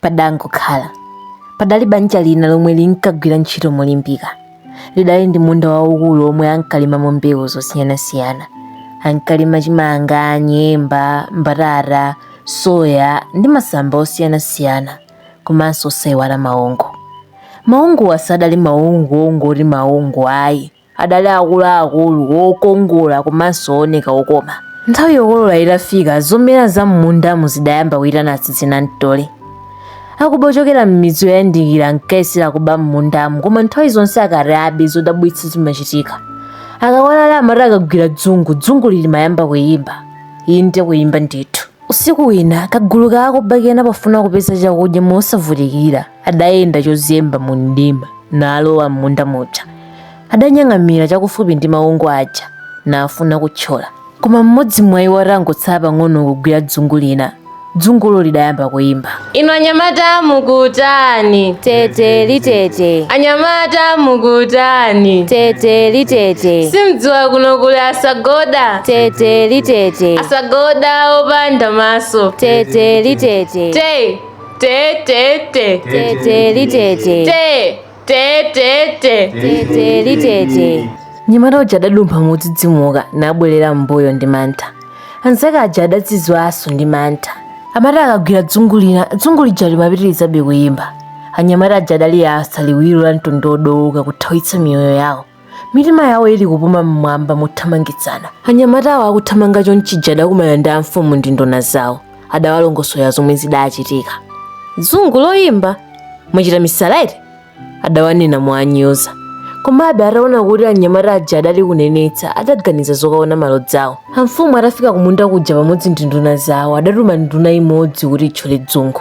Padangokhala. Padali banja lina lomwe linkagwira ntchito molimbika. Lidali ndi munda waukulu womwe ankalimamo mbewu zosiyanasiyana. Ankalima chimanga, nyemba, mbatata, soya ndi masamba osiyanasiyana komanso osaiwala maungu. Maunguwa sadali maungu ongoti maungu ayi. Adali akuluakulu, okongola komanso ooneka okoma. Nthawi yokolola itafika, zomera za m'mundamu zidayamba kuitana tsizinamtole. Akuba ochokera m'midzi yoyandikira ankayesera kuba m'mundamu koma nthawi zonse akati abe, zodabwitsa zimachitika. Akawalala amati akagwira dzungu, dzunguli limayamba kuimba. Inde kuimba ndithu. Usiku wina, kagulu ka akuba kena pofuna kupeza chakudya mosavutikira, adayenda chozemba mu mdima naalowa m'munda muja adanyang'amira chakufupi ndi maungu aja naafuna kuthyola koma mmodzi mwa iwo atangotsala pang'ono kugwira dzungu lina dzungulo lidayamba kuyimba inu anyamata mukutani tete litete anyamata mukutani tete litete simdziwa kuno kuli asagoda tete litete asagoda opanda maso tete litete te Te te te. Te te li te te. Te te te te. Te te li te te. Mnyamata uja adadumpha modzidzimuka nabwerera m'mbuyo ndi mantha. Anzake aja adadzizwanso ndi mantha. Amati akagwira dzungu lina, dzungu lija limapitirizabe kuyimba. Anyamata aja adaliyatsa liwiro la mtondo wodooka kuthawitsa miyoyo yawo. mitima yawo ili kupuma mmwamba mothamangitsana anyamatawo akuthamanga chonchija adakumana ndi amfumu ndi nduna zawo adawalongosola zomwe zidachitika dzungu loyimba mwachita misala eti adawanena monyoza komabe ataona kuti anyamata aja adali kunenetsa adaganiza zokaona malodzawo amfumu atafika kumunda kuja pamodzi ndi nduna zawo adatuma nduna imodzi kuti itchole dzungu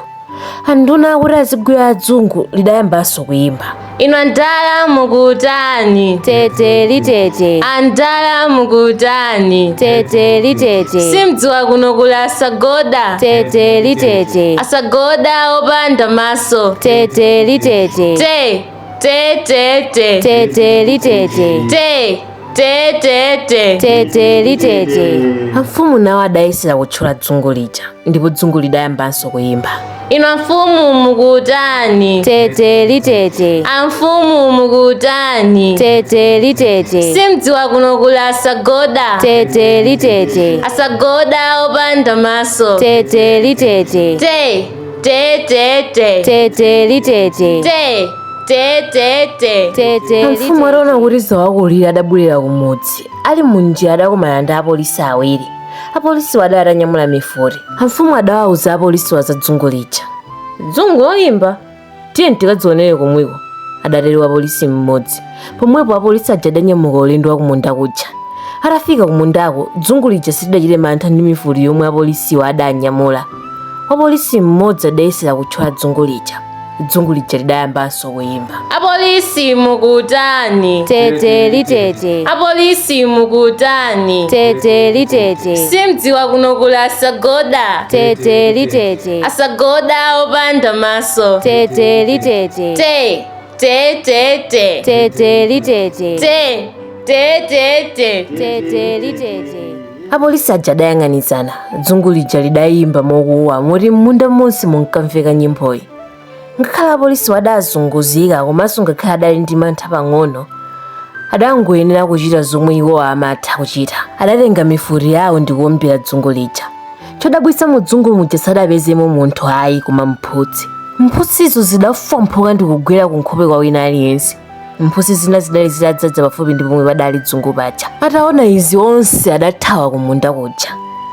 anduna akuti azigwira adzungu lidayambanso kuyimba ino andala mukutani tete litete andala mukutani tete litete simdziwa kuno kuli asagoda tete litete asagoda opanda maso tete litete te Te te te. Te te li te te. Te te te te. Te te li te te. Amfumu nawo adayesera kutchula dzungu lija ndipo dzungu lidayambanso kuyimba. Inu amfumu mukutani? Te te li te te. Amfumu mukutani? Te te li te te. Simdziwa kuno kuli asagoda. Te te li te te. Asagoda opanda maso. Te te li te te. Te. Te te te. Te te li te te. Te te te te. Te te li te. Mfumu ataona kuti zawakulira adabwerera kumudzi. Ali munjira adakumana ndi apolisi awiri. Apolisi wada atanyamula mifuti. Amfumu adawauza apolisi wazadzungu lija. Dzungu loyimba? tiye tikadzionere komweko adatero wapolisi mmodzi pomwepo apolisi aja adanyamuka ulendo wakumunda kuja atafika kumundako dzungu lija silidachite mantha ndi mifuti yomwe apolisiwo adanyamula wapolisi mmodzi adayesera kutchola dzungu lija dzungu lija lidayambanso kuyimba apolisi mukutani tete litete apolisi mukutani tete litete simdziwa kuno kuli asagoda tete litete tete asagoda opanda maso tete litete te te te te tete litete te te te te tete litete apolisi aja adayang'anizana dzungu lija lidayimba mokuwa moti m'munda monse munkamveka nyimboyi ngakhale apolisiwo adazunguzika komanso ngakhale adali ndi mantha pang'ono adangoyenera kuchita zomwe iwo amatha kuchita adatenga mifuti yawo ndi kuombera dzungu lija chodabwitsa mu dzungu muja sadapezemo munthu ayi koma mphutsi mphutsizo zidafwamphuka ndi kugwera ku nkhope kwa wina aliyense mphutsi zina zidali zitadzaza pafupi ndi pomwe padali dzungu paja ataona izi onse adathawa kumunda kuja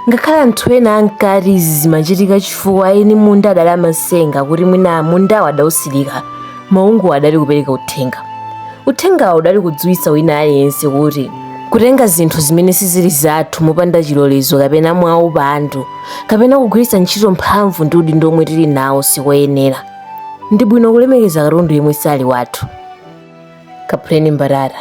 ngakhale anthu ena ankati izi zimachitika chifukwa eni munda adali amatsenga kuti mwina mundawo adautsirika maungu adali kupereka uthenga uthengawo udali kudziwitsa wina aliyense kuti kutenga zinthu zimene sizili zathu mopanda chilolezo kapena mwaupandu kapena kugwiritsa ntchito mphamvu ndi udindo omwe tili nawo sikoyenera ndi bwino kulemekeza katundu yemwe sali wathu kaphuleni mbatata